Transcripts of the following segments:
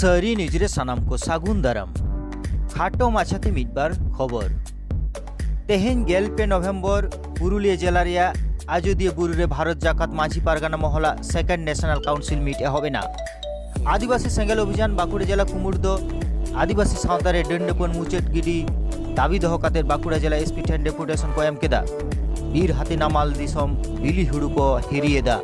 ᱥᱟᱹᱨᱤ ᱱᱤᱭᱩᱡᱽ ᱨᱮ ᱥᱟᱱᱟᱢ ᱠᱚ ᱥᱟᱹᱜᱩᱱ ᱫᱟᱨᱟᱢ ᱠᱷᱟᱴᱚ ᱢᱟᱪᱷᱟᱛᱮ ᱢᱤᱫᱵᱟᱨ ᱠᱷᱚᱵᱚᱨ ᱛᱮᱦᱮᱧ ᱜᱮᱞ ᱯᱮ ᱱᱚᱵᱷᱮᱢᱵᱚᱨ ᱯᱩᱨᱩᱞᱤᱭᱟᱹ ᱡᱮᱞᱟ ᱨᱮᱭᱟᱜ ᱟᱡᱚᱫᱤᱭᱟᱹ ᱵᱩᱨᱩ ᱨᱮ ᱵᱷᱟᱨᱚᱛ ᱡᱟᱠᱟᱛ ᱢᱟᱹᱡᱷᱤ ᱯᱟᱨᱜᱟᱱᱟ ᱢᱚᱦᱚᱞᱟᱜ ᱥᱮᱠᱮᱱᱰ ᱱᱮᱥᱱᱟᱞ ᱠᱟᱣᱩᱱᱥᱤᱞ ᱢᱤᱴ ᱮᱦᱚᱵ ᱮᱱᱟ ᱟᱹᱫᱤᱵᱟᱹᱥᱤ ᱥᱮᱸᱜᱮᱞ ᱚᱵᱷᱤᱡᱟᱱ ᱵᱟᱸᱠᱩᱲᱟ ᱡᱮᱞᱟ ᱠᱩᱢᱩᱴ ᱫᱚ ᱟᱹᱫᱤᱵᱟᱹᱥᱤ ᱥᱟᱶᱛᱟ ᱨᱮ ᱰᱟᱹᱱ ᱰᱟᱹᱯᱟᱹᱱ ᱢᱩᱪᱟᱹᱫ ᱜᱤᱰᱤ ᱫᱟᱹᱵᱤ ᱫᱚᱦᱚ ᱠᱟᱛᱮ ᱵᱟᱸᱠᱩᱲᱟ ᱡᱮᱞᱟ ᱮᱥᱯᱤ ᱴᱷᱮᱱ ᱰᱮᱯᱩᱴᱮᱥᱚᱱ ᱠᱚ ᱮᱢ ᱠᱮᱫᱟ ᱵᱤᱨ ᱦᱟᱹᱛᱤ ᱱᱟᱢᱟᱞ ᱫᱤᱥᱚᱢ ᱵᱤᱞᱤ ᱦᱩᱲᱩ ᱠᱚ ᱦᱤᱨᱤᱭᱮᱫᱟ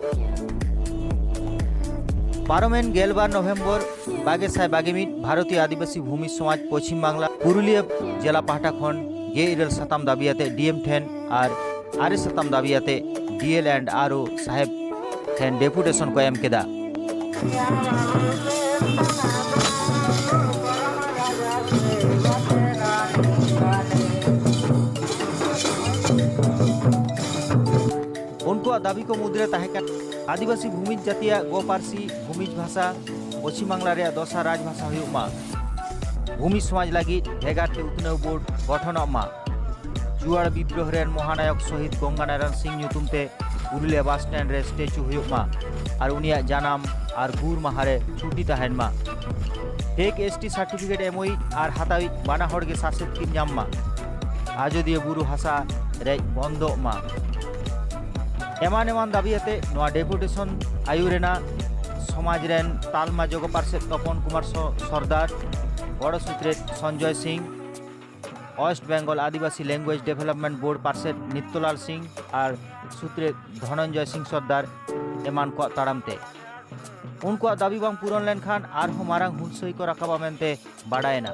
ᱯᱟᱨᱚᱢᱮᱱ ᱜᱮᱞᱵᱟᱨ ᱱᱚᱵᱷᱮᱢᱵᱚᱨ ᱵᱟᱜᱮ ᱥᱟᱭ ᱵᱟᱜᱮ ᱢᱤᱫ ᱵᱷᱟᱨᱚᱛᱤᱭᱚ ᱟᱹᱫᱤᱵᱟᱹᱥᱤ ᱵᱷᱩᱢᱤ ᱥᱚᱢᱟᱡᱽ ᱯᱚᱪᱷᱤᱢ ᱵᱟᱝᱞᱟ ᱯᱩᱨᱩᱞᱤᱭᱟᱹ ᱡᱮᱞᱟ ᱯᱟᱦᱴᱟ ᱠᱷᱚᱱ ᱜᱮ ᱤᱨᱟᱹᱞ ᱥᱟᱛᱟᱢ ᱫᱟᱹᱵᱤ ᱟᱛᱮ ᱰᱤᱮᱢ ᱴᱷᱮᱱ ᱟᱨ ᱟᱨᱮ ᱥᱟᱛᱟᱢ ᱫᱟᱹᱵᱤ ᱟᱛᱮ ᱰᱤᱮᱞ ᱮᱱᱰ ᱟᱨ ᱳ ᱥᱟᱦᱮᱵᱽ ᱴᱷᱮᱱ ᱰᱮᱯᱩᱴᱮᱥᱚᱱ ᱠᱚ ᱮᱢ ᱠᱮᱫᱟ ᱩᱱᱠᱩᱣᱟᱜ ᱫᱟᱹᱵᱤ ᱠᱚ ᱢᱩᱫᱽᱨᱮ ᱛᱟᱦᱮᱸ ᱠᱟᱱᱟ ᱟᱹᱫᱤᱵᱟᱹᱥᱤ ᱵᱷᱩᱢᱤᱡ ᱡᱟᱹᱛᱤᱭᱟᱜ ᱜᱚ ᱯᱟᱹᱨᱥᱤ ᱵᱷᱩᱢᱤᱡ ᱵᱷᱟᱥᱟ ᱯᱚᱪᱷᱤᱢ ᱵᱟᱝᱞᱟ ᱨᱮᱭᱟᱜ ᱫᱚᱥᱟᱨ ᱨᱟᱡᱽ ᱵᱷᱟᱥᱟ ᱦᱩᱭᱩᱜ ᱢᱟ ᱵᱷᱩᱢᱤᱡ ᱥᱚᱢᱟᱡᱽ ᱞᱟᱹᱜᱤᱫ ᱵᱷᱮᱜᱟᱨ ᱛᱮ ᱩᱛᱱᱟᱹᱣ ᱵᱳᱨᱰ ᱜᱚᱴᱷᱚᱱᱚᱜ ᱢᱟ ᱡᱩᱣᱟᱲ ᱵᱤᱫᱽᱨᱳᱦ ᱨᱮᱱ ᱢᱚᱦᱟᱱᱟᱭᱚᱠ ᱥᱚᱦᱤᱫ ᱜᱚᱝᱜᱟᱱᱟᱨᱟᱭᱚᱱ ᱥᱤᱝ ᱧᱩᱛᱩᱢ ᱛᱮ ᱯᱩᱨᱩᱞᱤᱭᱟ ᱵᱟᱥ ᱥᱴᱮᱱᱰ ᱨᱮ ᱥᱴᱮᱪᱩ ᱦᱩᱭᱩᱜ ᱢᱟ ᱟᱨ ᱩᱱᱤᱭᱟᱜ ᱡᱟᱱᱟᱢ ᱟᱨ ᱜᱩᱨ ᱢᱟᱦᱟ ᱨᱮ ᱪᱷᱩᱴᱤ ᱛᱟᱦᱮᱱ ᱢᱟ ᱴᱮᱠ ᱮᱥ ᱴᱤ ᱥᱟᱨᱴᱤᱯᱷᱤᱠᱮᱴ ᱮᱢᱚᱭᱤᱡ ᱟᱨ ᱦᱟᱛᱟᱣᱤᱡ ᱵᱟᱱᱟ ᱦᱚᱲ ᱜᱮ ᱥᱟᱥᱮᱛ ᱠᱤᱱ ᱧᱟᱢ ᱢᱟ ᱟᱡᱚᱫᱤᱭᱟᱹ ᱵᱩᱨᱩ ᱦᱟᱥᱟ ᱨᱮᱡ ᱵᱚᱱᱫᱚᱜ ᱢᱟ ᱮᱢᱟᱱ ᱮᱢᱟᱱ ᱫᱟᱹᱵᱤ ᱟᱛᱮ ᱱᱚᱣᱟ ᱰᱮᱯᱩᱴᱮᱥᱚᱱ ᱟᱭᱩᱨ ᱨᱮᱱᱟᱜ ᱥᱚᱢᱟᱡᱽ ᱨᱮᱱ ᱛᱟᱞᱢᱟ ᱡᱚᱜᱚ ᱯᱟᱨᱥᱮᱫ ᱛᱚᱯᱚᱱ ᱠᱩᱢᱟᱨ ᱥᱚᱨᱫᱟᱨ ᱜᱚᱲᱚ ᱥᱩᱛᱨᱮᱛ ᱥᱚᱧᱡᱚᱭ ᱥᱤᱝ ᱳᱭᱮᱥᱴ ᱵᱮᱝᱜᱚᱞ ᱟᱹᱫᱤᱵᱟᱹᱥᱤ ᱞᱮᱝᱜᱩᱭᱮᱡᱽ ᱰᱮᱵᱷᱞᱚᱯᱢᱮᱱᱴ ᱵᱳᱨᱰ ᱯᱟᱨᱥᱮᱫ ᱱᱤᱛᱛᱚᱞᱟᱞ ᱥᱤᱝ ᱟᱨ ᱥᱩᱛᱨᱮᱫ ᱫᱷᱚᱱᱚᱱᱡᱚᱭ ᱥᱤᱝ ᱥᱚᱨᱫᱟᱨ ᱮᱢᱟᱱ ᱠᱚᱣᱟᱜ ᱛᱟᱲᱟᱢ ᱛᱮ ᱩᱱᱠᱩᱣᱟᱜ ᱫᱟᱹᱵᱤ ᱵᱟᱝ ᱯᱩᱨᱚᱱ ᱞᱮᱱᱠᱷᱟᱱ ᱟᱨᱦᱚᱸ ᱢᱟᱨᱟᱝ ᱦᱩᱞᱥᱟᱹᱭ ᱠᱚ ᱨᱟᱠᱟᱵᱟ ᱢᱮᱱᱛᱮ ᱵᱟᱰᱟᱭᱮᱱᱟ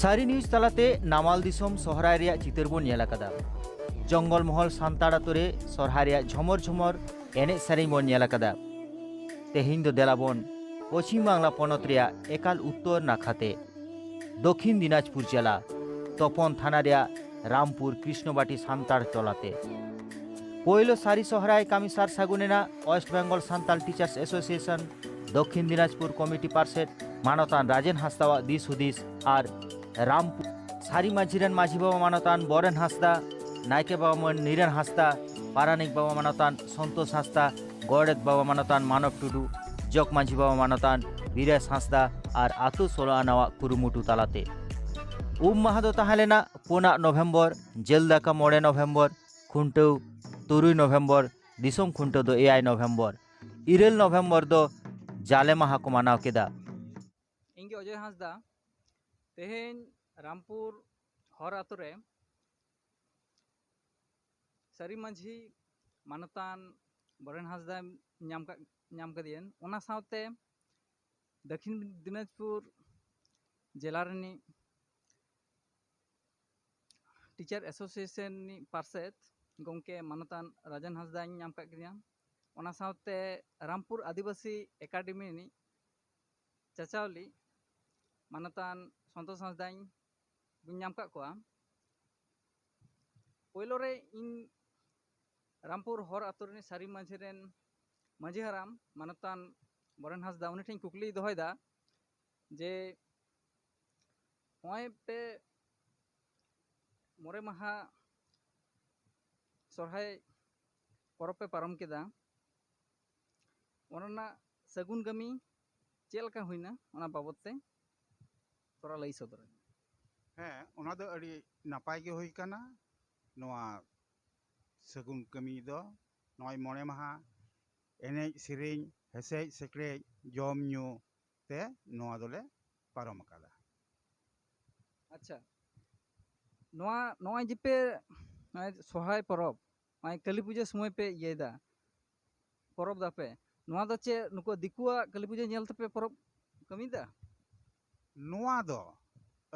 ᱥᱟᱹᱨᱤ ᱱᱤᱭᱩᱡᱽ ᱛᱟᱞᱟᱛᱮ ᱱᱟᱢᱟᱞ ᱫᱤᱥᱚᱢ ᱥᱚᱦᱨᱟᱭ ᱨᱮᱭᱟᱜ ᱪᱤᱛᱟᱹᱨ ᱵᱚᱱ ᱧᱮᱞ ᱟᱠᱟᱫᱟ ᱡᱚᱝᱜᱚᱞ ᱢᱚᱦᱚᱞ ᱥᱟᱱᱛᱟᱲ ᱟᱛᱳ ᱨᱮ ᱥᱚᱦᱨᱟᱭ ᱨᱮᱭᱟᱜ ᱡᱷᱚᱢᱚᱨ ᱡᱷᱚᱢᱚᱨ ᱮᱱᱮᱡ ᱥᱮᱨᱮᱧ ᱵᱚᱱ ᱧᱮᱞ ᱟᱠᱟᱫᱟ ᱛᱮᱦᱮᱧ ᱫᱚ ᱫᱮᱞᱟ ᱵᱚᱱ ᱯᱚᱪᱷᱤᱢ ᱵᱟᱝᱞᱟ ᱯᱚᱱᱚᱛ ᱨᱮᱭᱟᱜ ᱮᱠᱟᱞ ᱩᱛᱛᱚᱨ ᱱᱟᱠᱷᱟ ᱛᱮ ᱫᱚᱠᱷᱤᱱ ᱫᱤᱱᱟᱡᱽᱯᱩᱨ ᱡᱮᱞᱟ ᱛᱚᱯᱚᱱ ᱛᱷᱟᱱᱟ ᱨᱮᱭᱟᱜ ᱨᱟᱢᱯᱩᱨ ᱠᱨᱤᱥᱱᱚᱵᱟᱴᱤ ᱥᱟᱱᱛᱟᱲ ᱴᱚᱞᱟ ᱛᱮ ᱯᱳᱭᱞᱳ ᱥᱟᱹᱨᱤ ᱥᱚᱦᱨᱟᱭ ᱠᱟᱹᱢᱤ ᱥᱟᱨ ᱥᱟᱹᱜᱩᱱ ᱮᱱᱟ west Bengal Santal teachers association Dakshin Dinajpur committee ᱯᱟᱨᱥᱮᱫ ᱢᱟᱱᱚᱛᱟᱱ ᱨᱟᱡᱮᱱ ᱦᱟᱸᱥᱫᱟᱣᱟᱜ ᱫᱤᱥ ᱦᱩᱫᱤᱥ ᱟᱨ ᱨᱟᱢ ᱥᱟᱹᱨᱤ ᱢᱟᱹᱡᱷᱤ ᱨᱮᱱ ᱢᱟᱹᱡᱷᱤ ᱵᱟᱵᱟ ᱢᱟᱱᱚᱛᱟᱱ ᱵᱚᱨᱮᱱ ᱦᱟᱸᱥᱫᱟ ᱱᱟᱭᱠᱮ ᱵᱟᱵᱟ ᱢᱟᱹᱱ ᱱᱤᱨᱮᱱ ᱦᱟᱸᱥᱫᱟ ᱯᱟᱨᱟᱱᱤᱠ ᱵᱟᱵᱟ ᱢᱟᱱᱚᱛᱟᱱ ᱥᱚᱱᱛᱳᱥ ᱦᱟᱸᱥᱫᱟ ᱜᱚᱰᱮᱛ ᱵᱟᱵᱟ ᱢᱟᱱᱚᱛᱟᱱ ᱢᱟᱱᱚᱵ ᱴᱩᱰᱩ ᱡᱚᱜᱽ ᱢᱟᱹᱡᱷᱤ ᱵᱟᱵᱟ ᱢᱟᱱᱚᱛᱟᱱ ᱵᱤᱨᱮᱥ ᱦᱟᱸᱥᱫᱟ ᱟᱨ ᱟᱛᱳ ᱥᱳᱞᱳ ᱟᱱᱟᱣᱟᱜ ᱠᱩᱨᱩᱢᱩᱴᱩ ᱛᱟᱞᱟᱛᱮ ᱩᱢ ᱢᱟᱦᱟ ᱫᱚ ᱛᱟᱦᱮᱸ ᱞᱮᱱᱟ ᱯᱩᱱᱟᱜ ᱱᱚᱵᱷᱮᱢᱵᱚᱨ ᱡᱮᱞ ᱫᱟᱠᱟ ᱢᱚᱬᱮ ᱱᱚᱵᱷᱮᱢᱵᱚᱨ ᱠᱷᱩᱱᱴᱟᱹᱣ ᱛᱩᱨᱩᱭ ᱱᱚᱵᱷᱮᱢᱵᱚᱨ ᱫᱤᱥᱚᱢ ᱠᱷᱩᱱᱴᱟᱹᱣ ᱫᱚ ᱮᱭᱟᱭ ᱱᱚᱵᱷᱮᱢᱵᱚᱨ ᱤᱨᱟᱹᱞ ᱱᱚᱵᱷᱮᱢᱵᱚᱨ ᱫᱚ ᱡᱟᱞᱮ ᱢᱟᱦᱟ ᱠᱚ ᱢᱟᱱᱟᱣ ᱠᱮᱫᱟ ᱤᱧ ᱜᱮ ᱚᱡᱚᱭ ᱦᱟᱸᱥᱫᱟ ᱛᱮᱦᱮᱧ ᱨᱟᱢᱯᱩᱨ ᱦᱚᱨ ᱟᱛᱳ ᱨᱮ ᱥᱟᱹᱨᱤ ᱢᱟᱹᱡᱷᱤ ᱢᱟᱱᱚᱛᱟᱱ ᱵᱚᱨᱮᱱ ᱦᱟᱸᱥᱫᱟ ᱧᱟᱢ ᱧᱟᱢ ᱠᱟᱫᱮᱭᱟᱹᱧ ᱚᱱᱟ ᱥᱟᱶᱛᱮ ᱫᱚᱠᱷᱤᱱ ᱫᱤᱱᱟᱡᱽᱯᱩᱨ ᱡᱮᱞᱟ ᱨᱤᱱᱤᱡ ᱴᱤᱪᱟᱨ ᱮᱥᱳᱥᱤᱭᱮᱥᱚᱱ ᱨᱤᱱᱤᱡ ᱯᱟᱨᱥᱮᱫ ᱜᱚᱢᱠᱮ ᱢᱟᱱᱚᱛᱟᱱ ᱨᱟᱡᱮᱱ ᱦᱟᱸᱥᱫᱟᱧ ᱧᱟᱢ ᱠᱟᱜ ᱠᱮᱫᱮᱭᱟ ᱚᱱᱟ ᱥᱟᱶᱛᱮ ᱨᱟᱢᱯᱩᱨ ᱟᱹᱫᱤᱵᱟᱹᱥᱤ ᱮᱠᱟᱰᱮᱢᱤ ᱨᱤᱱᱤᱡ ᱪᱟᱪᱞᱟᱣᱤᱡ ᱢᱟᱱᱚᱛᱟᱱ ᱥᱚᱱᱛᱳᱥ ᱦᱟᱸᱥᱫᱟᱧ ᱵᱟᱹᱧ ᱧᱟᱢ ᱟᱠᱟᱫ ᱠᱚᱣᱟ ᱯᱳᱭᱞᱳ ᱨᱮ ᱤᱧ ᱨᱟᱢᱯᱩᱨ ᱦᱚᱨ ᱟᱛᱳ ᱨᱤᱱᱤᱡ ᱥᱟᱹᱨᱤ ᱢᱟᱹᱡᱷᱤ ᱨᱮᱱ ᱢᱟᱹᱡᱷᱤ ᱦᱟᱲᱟᱢ ᱢᱟᱱᱚᱛᱟᱱ ᱵᱚᱨᱮᱱ ᱦᱟᱸᱥᱫᱟ ᱩᱱᱤ ᱴᱷᱮᱱ ᱠᱩᱠᱞᱤᱭ ᱫᱚᱦᱚᱭᱮᱫᱟ ᱡᱮ ᱱᱚᱜᱼᱚᱭ ᱯᱮ ᱢᱚᱬᱮ ᱢᱟᱦᱟ ᱥᱚᱨᱦᱟᱭ ᱯᱚᱨᱚᱵᱽ ᱯᱮ ᱯᱟᱨᱚᱢ ᱠᱮᱫᱟ ᱚᱱᱟ ᱨᱮᱱᱟᱜ ᱥᱟᱹᱜᱩᱱ ᱠᱟᱹᱢᱤ ᱪᱮᱫ ᱞᱮᱠᱟ ᱦᱩᱭᱱᱟ ᱚᱱᱟ ᱵᱟᱵᱚᱫ ᱛᱮ ᱛᱷᱚᱲᱟ ᱞᱟᱹᱭ ᱥᱚᱫᱚᱨ ᱟᱹᱧ ᱦᱮᱸ ᱚᱱᱟ ᱫᱚ ᱟᱹᱰᱤ ᱱᱟᱯᱟᱭ ᱜᱮ ᱦᱩᱭ ᱠᱟᱱᱟ ᱱᱚᱣᱟ ᱥᱟᱹᱜᱩᱱ ᱠᱟᱹᱢᱤ ᱫᱚ ᱱᱚᱜᱼᱚᱭ ᱢᱚᱬᱮ ᱢᱟᱦᱟ ᱮᱱᱮᱡ ᱥᱮᱨᱮᱧ ᱦᱮᱥᱮᱡ ᱥᱮᱠᱨᱮᱡ ᱡᱚᱢ ᱧᱩ ᱛᱮ ᱱᱚᱣᱟ ᱫᱚᱞᱮ ᱯᱟᱨᱚᱢ ᱟᱠᱟᱫᱟ ᱟᱪᱪᱷᱟ ᱱᱚᱣᱟ ᱱᱚᱜᱼᱚᱭ ᱡᱮᱯᱮ ᱥᱚᱦᱨᱟᱭ ᱯᱚᱨᱚᱵᱽ ᱱᱚᱜᱼᱚᱭ ᱠᱟᱹᱞᱤ ᱯᱩᱡᱟᱹ ᱥᱚᱢᱚᱭ ᱯᱮ ᱤᱭᱟᱹᱭᱮᱫᱟ ᱯᱚᱨᱚᱵᱽ ᱮᱫᱟᱯᱮ ᱱᱚᱣᱟ ᱫᱚ ᱪᱮᱫ ᱱᱩᱠᱩ ᱫᱤᱠᱩᱣᱟᱜ ᱠᱟᱹᱞᱤ ᱯᱩᱡᱟᱹ ᱧᱮᱞ ᱛᱮᱯᱮ ᱯᱚᱨᱚᱵᱽ ᱠᱟᱹᱢᱤᱭᱮᱫᱟ ᱱᱚᱣᱟ ᱫᱚ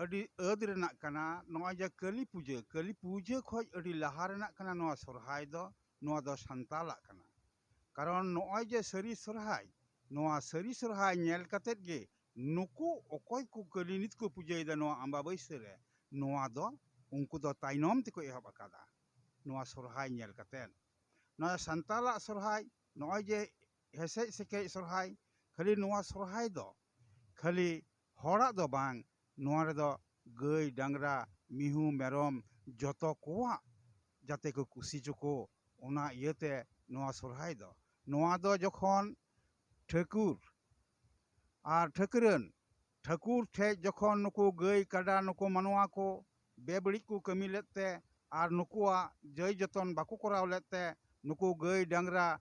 ᱟᱹᱰᱤ ᱟᱹᱫ ᱨᱮᱱᱟᱜ ᱠᱟᱱᱟ ᱱᱚᱜᱼᱚᱭ ᱡᱮ ᱠᱟᱹᱞᱤ ᱯᱩᱡᱟᱹ ᱠᱟᱹᱞᱤ ᱯᱩᱡᱟᱹ ᱠᱷᱚᱱ ᱟᱹᱰᱤ ᱞᱟᱦᱟ ᱨᱮᱱᱟᱜ ᱠᱟᱱᱟ ᱱᱚᱣᱟ ᱥᱚᱦᱨᱟᱭ ᱫᱚ ᱱᱚᱣᱟ ᱫᱚ ᱥᱟᱱᱛᱟᱲᱟᱜ ᱠᱟᱱᱟ ᱠᱟᱨᱚᱱ ᱱᱚᱜᱼᱚᱭ ᱡᱮ ᱥᱟᱹᱨᱤ ᱥᱚᱦᱨᱟᱭ ᱱᱚᱣᱟ ᱥᱟᱹᱨᱤ ᱥᱚᱦᱨᱟᱭ ᱧᱮᱞ ᱠᱟᱛᱮᱫ ᱜᱮ ᱱᱩᱠᱩ ᱚᱠᱚᱭ ᱠᱚ ᱠᱟᱹᱞᱤ ᱱᱤᱛ ᱠᱚ ᱯᱩᱡᱟᱹᱭᱮᱫᱟ ᱱᱚᱣᱟ ᱟᱢᱵᱟᱵᱟᱹᱥᱭᱟᱹ ᱨᱮ ᱱᱚᱣᱟ ᱫᱚ ᱩᱱᱠᱩ ᱫᱚ ᱛᱟᱭᱱᱚᱢ ᱛᱮᱠᱚ ᱮᱦᱚᱵ ᱟᱠᱟᱫᱟ ᱱᱚᱣᱟ ᱥᱚᱨᱦᱟᱭ ᱧᱮᱞ ᱠᱟᱛᱮᱫ ᱱᱚᱣᱟ ᱥᱟᱱᱛᱟᱲᱟᱜ ᱥᱚᱨᱦᱟᱭ ᱱᱚᱜᱼᱚᱭ ᱡᱮ ᱦᱮᱥᱮᱡ ᱥᱮᱠᱮᱡ ᱥᱚᱨᱦᱟᱭ ᱠᱷᱟᱹᱞᱤ ᱱᱚᱣᱟ ᱥᱚᱨᱦᱟᱭ ᱫᱚ ᱠᱷᱟᱹᱞᱤ ᱦᱚᱲᱟᱜ ᱫᱚ ᱵᱟᱝ ᱱᱚᱣᱟ ᱨᱮᱫᱚ ᱜᱟᱹᱭ ᱰᱟᱝᱨᱟ ᱢᱤᱦᱩ ᱢᱮᱨᱚᱢ ᱡᱚᱛᱚ ᱠᱚᱣᱟᱜ ᱡᱟᱛᱮ ᱠᱚ ᱠᱩᱥᱤ ᱦᱚᱪᱚ ᱠᱚ ᱚᱱᱟ ᱤᱭᱟᱹᱛᱮ ᱱᱚᱣᱟ ᱥᱚᱨᱦᱟᱭ ᱫᱚ ᱱᱚᱣᱟ ᱫᱚ ᱡᱚᱠᱷᱚᱱ ᱴᱷᱟᱹᱠᱩᱨ ᱟᱨ ᱴᱷᱟᱹᱠᱨᱟᱹᱱ ᱴᱷᱟᱹᱠᱩᱨ ᱴᱷᱮᱡ ᱡᱚᱠᱷᱚᱱ ᱱᱩᱠᱩ ᱜᱟᱹᱭ ᱠᱟᱰᱟ ᱱᱩᱠᱩ ᱢᱟᱱᱣᱟ ᱠᱚ ᱵᱮᱵᱟᱹᱲᱤᱡ ᱠᱚ ᱠᱟᱹᱢᱤ ᱞᱮᱫ ᱛᱮ ᱟᱨ ᱱᱩᱠᱩᱣᱟᱜ ᱡᱟᱹᱭ ᱡᱚᱛᱚᱱ ᱵᱟᱠᱚ ᱠᱚᱨᱟᱣ ᱞᱮᱫ ᱛᱮ ᱱᱩᱠᱩ ᱜᱟᱹᱭ ᱰᱟᱝᱨᱟ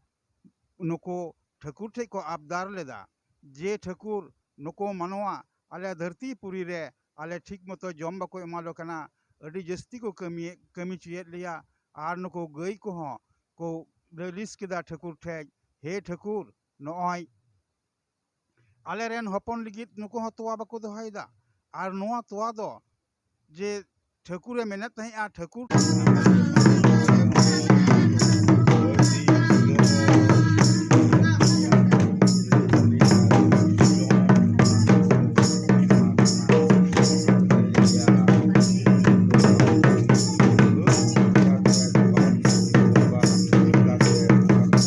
ᱱᱩᱠᱩ ᱴᱷᱟᱹᱠᱩᱨ ᱴᱷᱮᱡ ᱠᱚ ᱟᱵᱫᱟᱨ ᱞᱮᱫᱟ ᱡᱮ ᱴᱷᱟᱹᱠᱩᱨ ᱱᱩᱠᱩ ᱢᱟᱱᱣᱟ ᱟᱞᱮ ᱫᱷᱟᱹᱨᱛᱤ ᱯᱩᱨᱤ ᱨᱮ ᱟᱞᱮ ᱴᱷᱤᱠ ᱢᱚᱛᱚ ᱡᱚᱢ ᱵᱟᱠᱚ ᱮᱢᱟ ᱞᱮ ᱠᱟᱱᱟ ᱟᱹᱰᱤ ᱡᱟᱹᱥᱛᱤ ᱠᱚ ᱠᱟᱹᱢᱤ ᱠᱟᱹᱢᱤ ᱪᱚᱭᱮᱫ ᱞᱮᱭᱟ ᱟᱨ ᱱᱩᱠᱩ ᱜᱟᱹᱭ ᱠᱚᱦᱚᱸ ᱠᱚ ᱞᱟᱹᱞᱤᱥ ᱠᱮᱫᱟ ᱴᱷᱟᱹᱠᱩᱨ ᱴᱷᱮᱡ ᱦᱮ ᱴᱷᱟᱹᱠᱩᱨ ᱱᱚᱜᱼᱚᱭ ᱟᱞᱮ ᱨᱮᱱ ᱦᱚᱯᱚᱱ ᱞᱟᱹᱜᱤᱫ ᱱᱩᱠᱩ ᱦᱚᱸ ᱛᱚᱣᱟ ᱵᱟᱠᱚ ᱫᱚᱦᱚᱭᱮᱫᱟ ᱟᱨ ᱱᱚᱣᱟ ᱛᱚᱣᱟ ᱫᱚ ᱡᱮ ᱴᱷᱟᱹᱠᱩᱨᱮ ᱢᱮᱱᱮᱫ ᱛᱟᱦᱮᱸᱫᱼᱟ ᱴᱷᱟᱹᱠᱩᱨ